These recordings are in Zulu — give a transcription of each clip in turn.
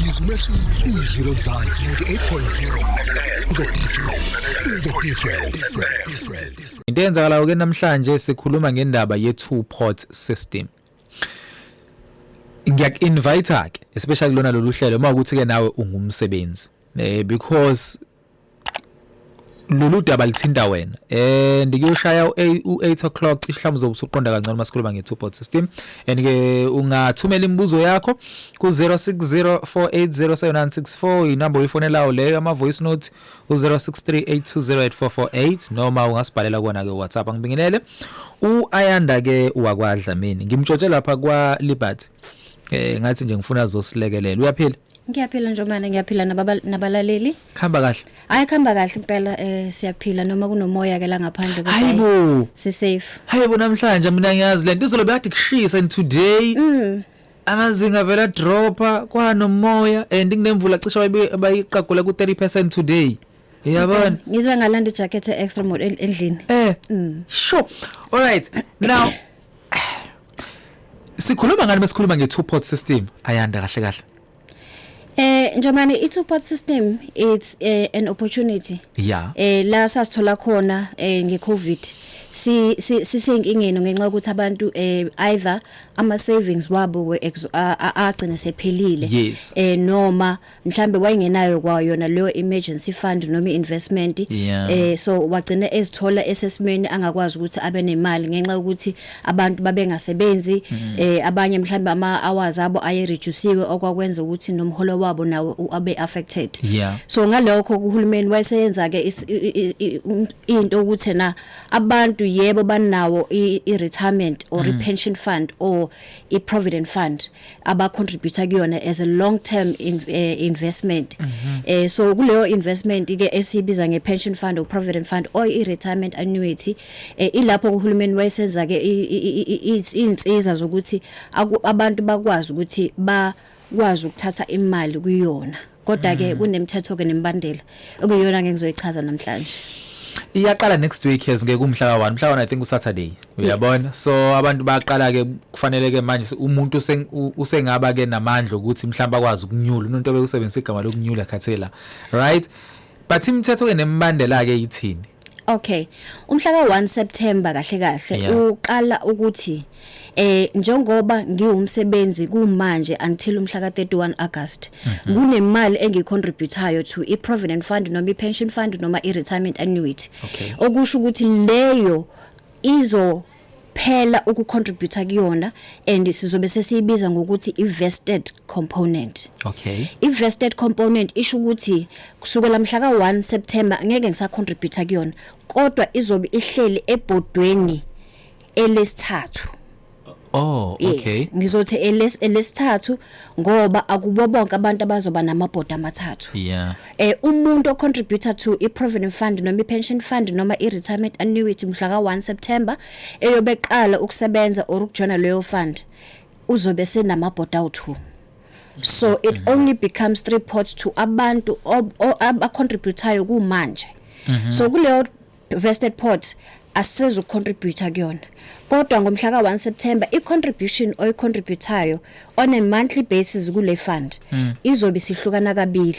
izwi umehluko izwi lomzansi 98.0 into eyenzakalayo ke namhlanje sikhuluma ngendaba ye-two port system ngiyaku-invite-ke especially kulona lolu hlelo uma ukuthi-ke nawe ungumsebenzi um because lolu daba lithinta wena and kuyoshaya u-8 o'clock cishe mhlawumbe uzobe usuqonda kangcono uma sikhuluma nge-two board system and-ke ungathumela imibuzo yakho ku-060 480764 inamba oyifonelayo leyo ama-voice note u-063 820 noma ungasibhalela kona-ke whatsapp angibingelele u-ayanda-ke wakwadlamini ngimtshotshe lapha kwa-liberty um eh, ngathi nje ngifuna zosilekelela uyaphila Ngiyaphila njomane ngiyaphila nababa nabalaleli. Khamba kahle. Hayi khamba kahle impela eh siyaphila noma kunomoya ke la ngaphandle kodwa Hayibo. si safe. Hayibo namhlanje mina ngiyazi lento izolo bekade kushisa and today Mm. amazinga vela dropper kwanomoya and kunemvula cishe bayiqagula ku 30% today. uyabona ngize ngalanda ijacket extra mode endlini eh mm. sure all right now sikhuluma ngani mesikhuluma nge two pot system ayanda kahle kahle Eh njomani i two pot system it's uh, an opportunity. Yeah. Eh la sasithola khona eh nge Covid. Si sisenkingeni ngenxa ukuthi abantu eh either ama savings wabo we agcina sephelile. Yes. Eh noma mhlambe wayengenayo kwayo yona leyo emergency fund noma investment yeah. eh so wagcina ezithola esesimeni angakwazi ukuthi abe nemali ngenxa ukuthi abantu babengasebenzi mm -hmm. eh abanye mhlambe ama hours abo aye reducewe okwakwenza ukuthi nomholo wabo nawo abe affected yeah. so ngalokho kuhulumeni wayeseyenza ke um, into ukuthi na abantu yebo banawo i retirement or mm -hmm. i pension fund or i provident fund aba contributor kuyona as a long term in, uh, investment mm -hmm. eh so kuleyo investment ke esibiza nge pension fund or provident fund or i retirement annuity eh ilapho kuhulumeni wayesenza ke izinsiza zokuthi abantu bakwazi ukuthi ba kwazi ukuthatha imali kuyona kodwa ke mm. kunemithetho ke nembandela okuyona ngeke ngizoyichaza namhlanje iyaqala next week yes ngeke umhla ka1 mhla ka1 i think usaturday uyabona so abantu baqala ke kufanele ke manje umuntu usengaba ke namandla ukuthi mhlawumbe akwazi ukunyula umuntu obeyusebenzisa igama lokunyula khathela right but imithetho ke nembandela ke yithini Okay. Umhla ka-1 September kahle kahle Yeah. uqala ukuthi eh njengoba ngiwumsebenzi kumanje until umhla ka-31 August Mhm. kunemali engicontributayo to i-provident fund noma i-pension fund noma i-retirement annuity. Okay. Okusho ukuthi leyo izo phela ukucontributor kuyona and sizobe sesiyibiza ngokuthi i-vested component okay i-vested component isho ukuthi kusukela mhla ka-1 September ngeke ngisacontributor kuyona kodwa izobe ihleli ebhodweni elesithathu Oh okay. Yes. Ngizothi elesithathu ngoba akubo bonke abantu abazoba namabhodi amathathu yeah eh umuntu o contributor to i provident fund noma i pension fund noma i retirement annuity mhla ka 1 September eyobeqala ukusebenza or ukujona leyo fund uzobe senamabhodi awu2 so it mm-hmm. only becomes three pots to abantu abacontributayo kumanje mm-hmm. so kuleyo Vested Port asisezu ukucontributor kuyona kodwa ngomhla ka-1 September i-contribution oyicontributayo on a monthly basis kule fund mm. izobe sihlukana kabili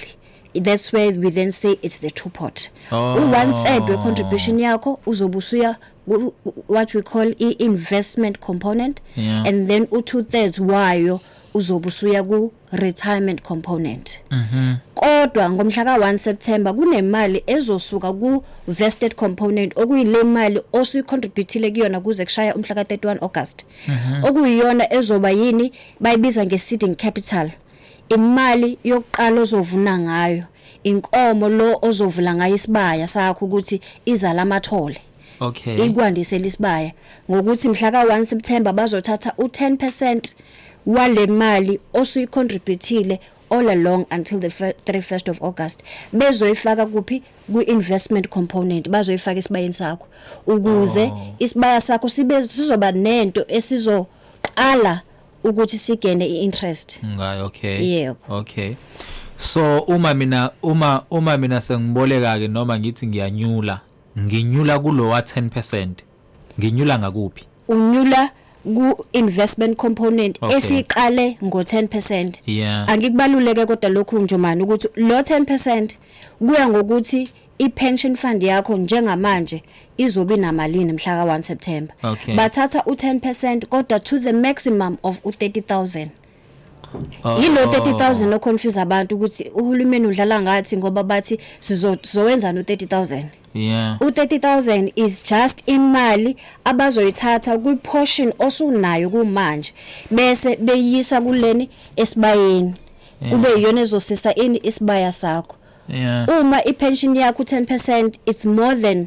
that's where we then say it's the two pot oh. u-one third we-contribution yakho uzobe usuya what we call i-investment component yeah. and then u-two thirds wayo uzobe usuya ku retirement component mhm kodwa ngomhla ka1 September kunemali ezosuka ku vested component okuyile mali osuyicontributile kuyona kuze kushaya umhla ka31 August mhm. okuyiyona ezoba yini bayibiza ngeseeding capital imali yokuqala ozovuna ngayo inkomo lo ozovula ngayo isibaya sakho ukuthi izala amathole Okay. ikwandisela isibaya ngokuthi mhla ka-1 September bazothatha u-10 percent wale mali osuyicontributile all along until the fir- 31st of August bezoyifaka kuphi kwi-investment component bazoyifaka esibayeni sakho ukuze Oh. isibaya sakho sibe sizoba nento esizoqala ukuthi sigene i-interest Ngayo okay. Yebo. Okay. So uma mina uma uma mina sengiboleka ke noma ngithi ngiyanyula Nginyula kulowa 10 percent. Nginyula ngakuphi? Unyula ku-investment component okay. esiqale ngo-10 percent yeah. angikubaluleke kodwa lokhu njomani ukuthi lo 10 percent kuya ngokuthi i-pension fund yakho njengamanje izobe namalini mhla ka-1 September okay. bathatha u-10% kodwa to the maximum of u-30000 Oh. Yilo 30000 lo confuse abantu ukuthi uhulumeni udlala ngathi ngoba bathi sizowenza no 30000. Yeah. U 30000 is just imali abazoyithatha kwi portion osunayo kumanje bese beyisa kuleni esibayeni. Kube yiyona ezosisa ini isibaya sakho. Yeah. Uma i pension yakho 10% it's more than 30000.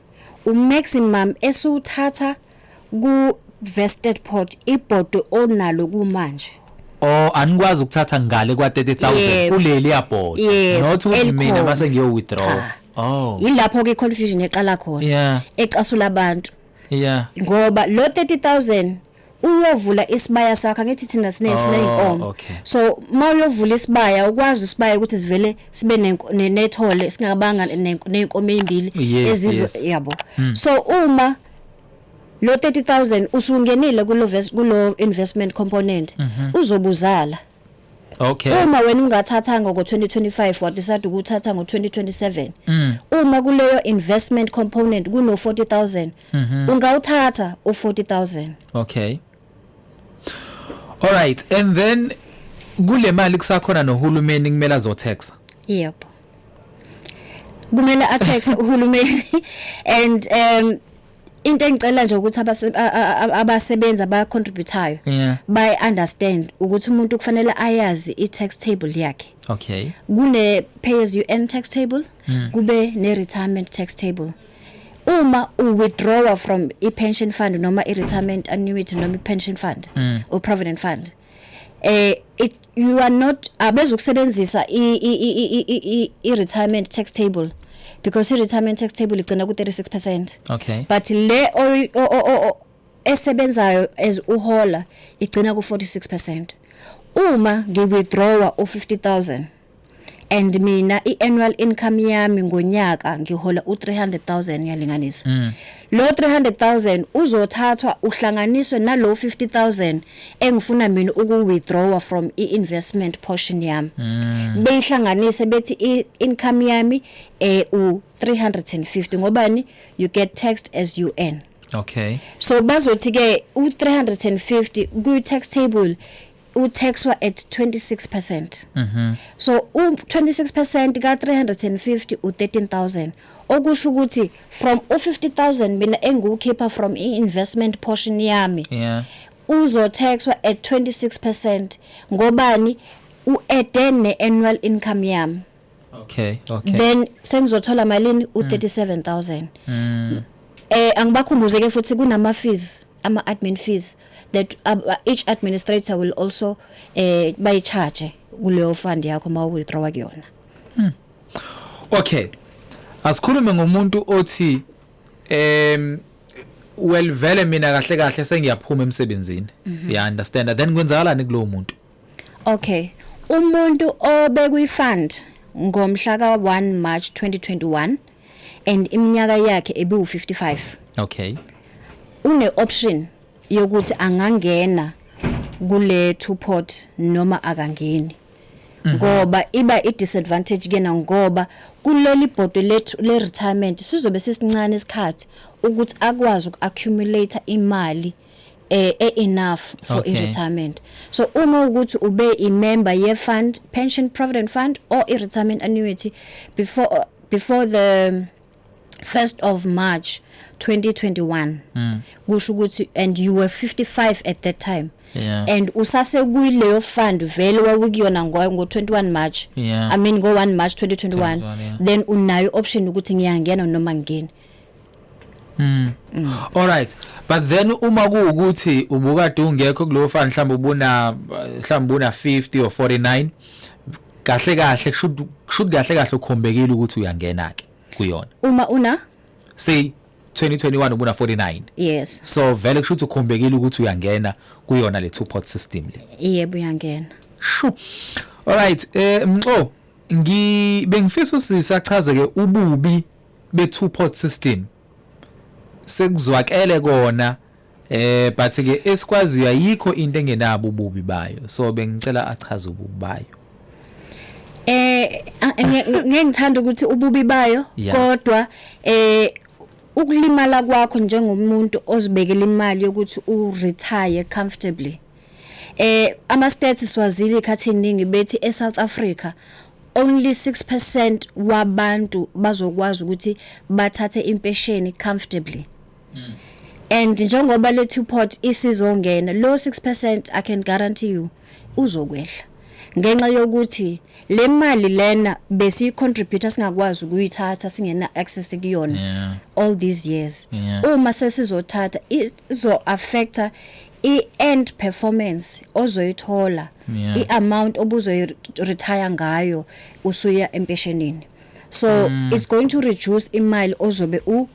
uMaximum esiwuthatha ku-Vestetport ibhodwe onalo kumanje. Oh anikwazi ukuthatha ngale kwa 30000 Yebo. kuleli yabhoda Yebo, not ukuthi elikhona. mina mase ngiyo withdraw. Cha. Oh. Yilapho ke confusion eqala khona Yeah. ecasula abantu Yeah. ngoba lo 30000 uyovula isibaya sakho angithi thina sine oh, sineyinkomo okay. so uma uyovula isibaya ukwazi isibaya ukuthi sivele sibe nethole singabanga nenkomo ezimbili yes, ezizo yes. yabo hmm. so uma lo 30000 usungenile kulo kulo investment component mm -hmm. uzobuzala Okay. Uma wena ungathathanga ngo-2025 wadecide ukuthatha ngo-2027. Mm. Uma kuleyo investment component kuno 40000 mm -hmm. ungawuthatha u40000. Okay. All right and then kule mali kusakhona nohulumeni kumele azotaxa. Yebo. Kumele ataxe uhulumeni and um into engicela nje ukuthi abasebenzi abacontributayo yeah. by understand ukuthi umuntu kufanele ayazi i-tax table yakhe okay kune pay as you earn tax table mm. kube ne retirement tax table uma u withdraw from i pension fund noma i retirement annuity noma i pension fund mm. or provident fund eh it, you are not abezukusebenzisa i retirement tax table because i retirement tax table igcina ku 36% okay but le esebenzayo as uhola igcina ku 46% uma ngiwithdrawa u 50000 and mina i-annual income yami ngonyaka ngihola u-300000 ngiyalinganisa mm. lo 300000 uzothathwa uhlanganiswe nalo 50000 engifuna mina uku-withdrawa from i-investment portion yami mm. beyihlanganise bethi i-income yami eh, u-350 ngobani you get taxed as you earn okay so bazothi-ke u-350 kwi-tax table utaxwa at 26%. Mhm. So u 26% ka 350 u 13000 okusho ukuthi from u 50000 mina engiwukhipha from i investment portion yami Yeah. uzotaxwa at 26% ngobani u add ne annual income yami. Okay, okay. Mm. then sengizothola malini u 37000 eh angibakhumbuze ke futhi kunama fees ama-admin fees that uh, each administrator will also um eh, bayicharge kuleyo fund yakho uma uwithdrawa kuyona hmm. okay asikhulume ngomuntu othi um well vele mina kahle kahle sengiyaphuma emsebenzini mhm. ya understand then kwenzakalani kulowo muntu okay umuntu obekwi fund ngomhla ka 1 March 2021 and iminyaka yakhe ebiwu 55 okay une option yokuthi angangena kule two pot noma akangeni mhm. ngoba iba i disadvantage kena ngoba kuleli bhodwe lethu le retirement sizobe sisincane isikhathi ukuthi akwazi uku accumulate imali eh e enough for okay. retirement so uma ukuthi ube i member ye fund pension provident fund or i retirement annuity before uh, before the 1st of March 2021 mm. kusho ukuthi and you were 55 at that time yeah. and usase kuyileyo fund vele wawukuyona ngo 21 March yeah. I mean ngo 1 March 2021 yeah. then unayo option ukuthi ngiyangena noma ngingene Mm. mm. All right. But then uma kuukuthi ubukade ungekho kulowo fan mhlawumbe ubuna mhlawumbe una 50 or 49 kahle kahle should should kahle kahle ukhombekile ukuthi uyangena ke kuyona. Uma una say 2021 ubuna 49. Yes. So vele kusho ukuthi ukhombekile ukuthi uyangena kuyona le two pot system le. Yebo uyangena. Shu. All right. Eh mxo ngi bengifisa usisa achaze ke ububi be-two pot system sekuzwakele kona eh but ke esikwaziyo ayikho into engenabo ububi bayo so bengicela achaze ububi bayo eh ngeke ngithanda ukuthi ububi bayo kodwa eh ukulimala kwakho njengomuntu ozibekela imali yokuthi u retire comfortably eh ama stats siwazile ikhathi eningi bethi e South Africa only 6% wabantu bazokwazi ukuthi bathathe impesheni comfortably mm. and njengoba le two pot isizongena lo 6% i can guarantee you uzokwehla ngenxa yokuthi le mali lena besi contributor singakwazi ukuyithatha singena access kuyona yeah. all these years yeah. uma sesizothatha izo affecta i-end performance ozoyithola yeah. i-amount obuzoyi-retire ngayo usuya empeshenini so mm. it's going to reduce imali ozobe u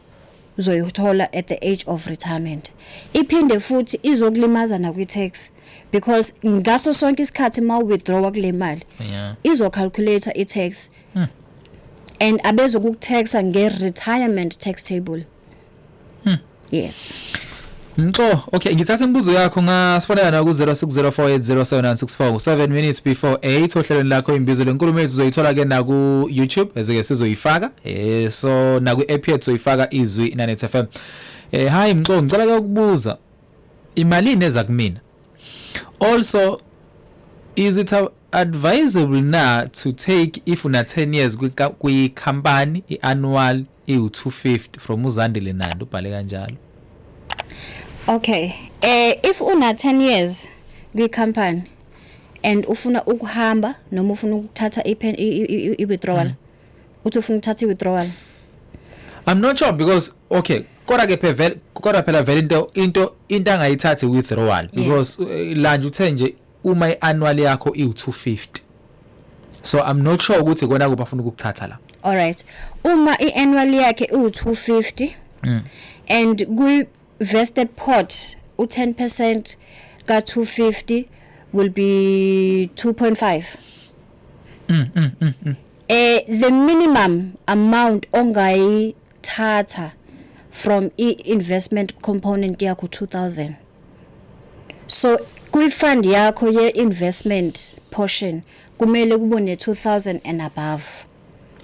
uzoyithola at the age of retirement iphinde futhi izokulimaza nakwi-tax because ngaso sonke isikhathi ma withdrawa kule mali yeah. izocalculator i-tax hmm. and abezokukutaxa nge-retirement tax table Hmm. Yes. Mxo, okay ngithatha imibuzo yakho ngasifonela na ku 0604807964 ku 7 minutes before 8 ohlelweni lakho imbizo lenkulumo yethu uzoyithola ke na ku YouTube ezike sizoyifaka eh so na ku app yethu uzoyifaka izwi Nanet FM. Eh hi Mxo, ngicela ke ukubuza imalini eza kumina? Also is it advisable na to take if una 10 years kwi company i annual iwu-250 from uzandile nandi ubhale kanjalo okay eh if una 10 years kwi company and ufuna ukuhamba noma ufuna ukuthatha ipen i-withdrawal mm. uthi ufuna ukuthatha i-withdrawal I'm not sure because okay kodwa ke phela kodwa phela vele into into into angayithathi withdrawal because yes. Eh, lanje uthe nje uma iannual yakho iwu 250 so i'm not sure ukuthi kona kuphi afuna ukukuthatha la all right uma iannual yakhe iwu 250 mm. and kwi vested pot u 10% ka 250 will be 2.5 mm, mm, mm, mm. eh the minimum amount ongayi thatha from i-investment component yakho 2000 so kwi-fund yakho ye-investment portion kumele kube ne-2000 and above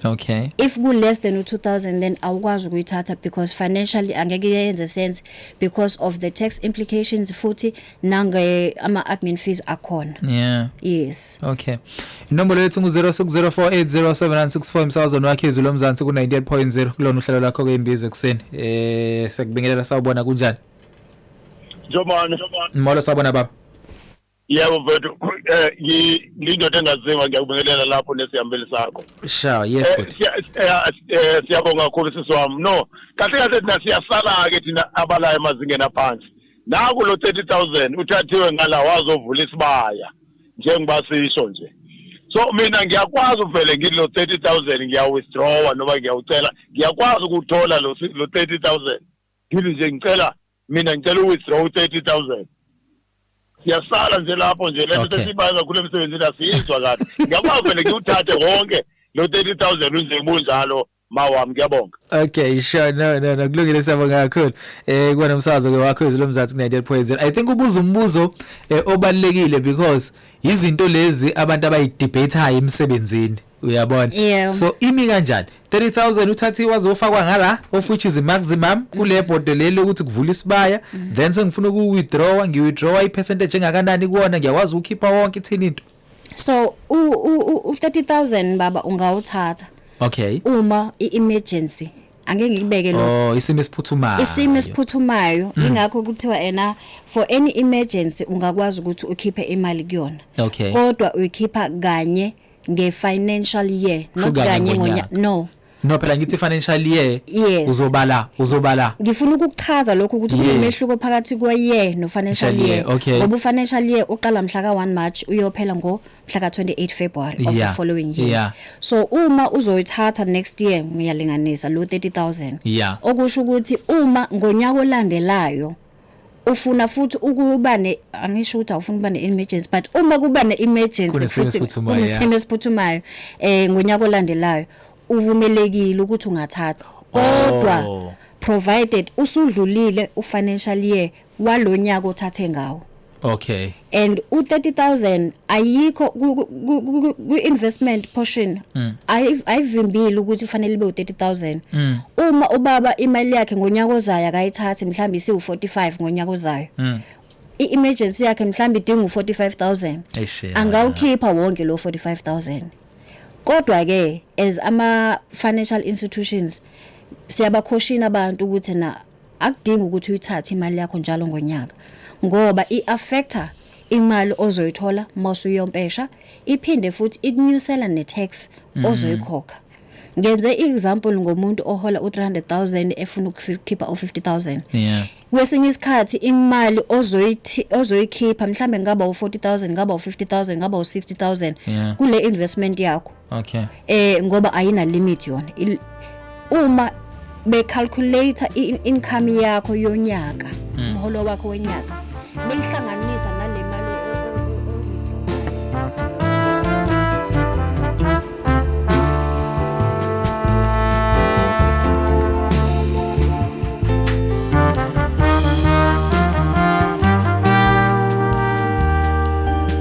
okay if ku-less than u-2000 then awukwazi ukuyithatha because financially angeke yenze sense because of the tax implications futhi nange ama admin fees akhona yeah yes okay inombolo yethu ngu 0604807964 emsakazweni wakhe izwi lomzansi ku 98.0 kulona uhlelo lakho ke imbizo ekseni eh sekubingelela sawubona kunjani Njomane. molo sawubona baba Yebo mfethu eh ngi- ngindoda engaziwa ngiyakubingelela lapho nesihambeli sakho. sha yes Eh, bhuti siya- siya- eh, Siyabonga kakhulu sisi wami. No, kahle kahle thina siyasala ke thina abalayo emazingeni aphansi. naku lo 30000 uthathiwe ngala wazovula isibaya njengoba sisho nje so mina ngiyakwazi uvele ngithi lo 30000 ngiyawithdrawa noma ngiyawucela ngiyakwazi ukuthola lo 30000 ngithi nje ngicela mina ngicela uwithdraw u-30000 siyasala nje lapho nje lento okay. sesiyibayo kakhulu emsebenzini asiyizwa kahle ngiyakwazi vele ngiwuthathe wonke lo 30000 unje bunjalo mawami kuyabonga okay sure no no no kulungile siyabonga kakhulu eh kuba nomsakazo ke wakho izilo mzansi ku 90.0 i think ubuza umbuzo eh, obalekile because izinto lezi abantu abayidebateayo emsebenzini uyabona yeah. so imi kanjani 30000 uthathi wazofakwa ngala of which is maximum kule bhodwe leli ukuthi kuvula isibaya mm. then sengifuna uku withdraw ngi withdraw i percentage engakanani kuona ngiyakwazi ukukhipha wonke ithini into so u u 30000 baba ungawuthatha okay uma i emergency angeke ngikubeke lo oh isimo esiphuthumayo isimo esiphuthumayo mm. ingakho kuthiwa ena for any emergency ungakwazi ukuthi ukhiphe imali kuyona okay kodwa uyikhipha kanye nge financial year not kanye ngonyaka no No phela ngithi financial year yes. uzobala uzobala ngifuna ukukuchaza lokho ukuthi yeah. kunomehluko phakathi kwe year no financial year, year. Okay. ngoba u financial year uqala mhla ka 1 March uyophela ngo mhla ka 28 February of yeah. the following year yeah. so uma uzoyithatha next year ngiyalinganisa lo 30000 yeah. okusho ukuthi uma ngonyaka olandelayo ufuna futhi ukuba ne angisho ukuthi awufuna ukuba ne emergency but uma kuba ne emergency futhi kunesimo esiphuthumayo eh ngonyaka olandelayo uvumelekile ukuthi ungathatha kodwa oh. provided usudlulile ufinancial year walonyaka othathe ngawo Okay. And u 30000 ayikho ku investment portion mm. ayivimbile ukuthi ufanele ibe u 30000. Mm. Uma ubaba imali yakhe ngonyaka ozayo akayithathi mhlawumbe isiwu 45 ngonyaka ozayo. Mm. I-emergency yakhe mhlawumbe idinga u 45000. Angawukhipha wonke lo 45000. Kodwa ke as ama financial institutions siyabakhoshina abantu ukuthi na akudingi ukuthi uyithathe imali yakho njalo ngonyaka ngoba i-affecta imali ozoyithola masuyompesha iphinde futhi ikunyusela ne-tax mm. ozoyikhokha ngenze i-example ngomuntu ohola u-300000 efuna ukukhipha u-50000 yeah. kwesinye isikhathi imali ozoyikhipha mhlawumbe ngaba u-40000 ngaba u-50000 ngaba u-60000 yeah. kule investment yakho okay eh ngoba ayina limit yona Il- uma be calculate income yakho yonyaka umholo wakho wenyaka beyihlanganisa nale mali o- o- o- o-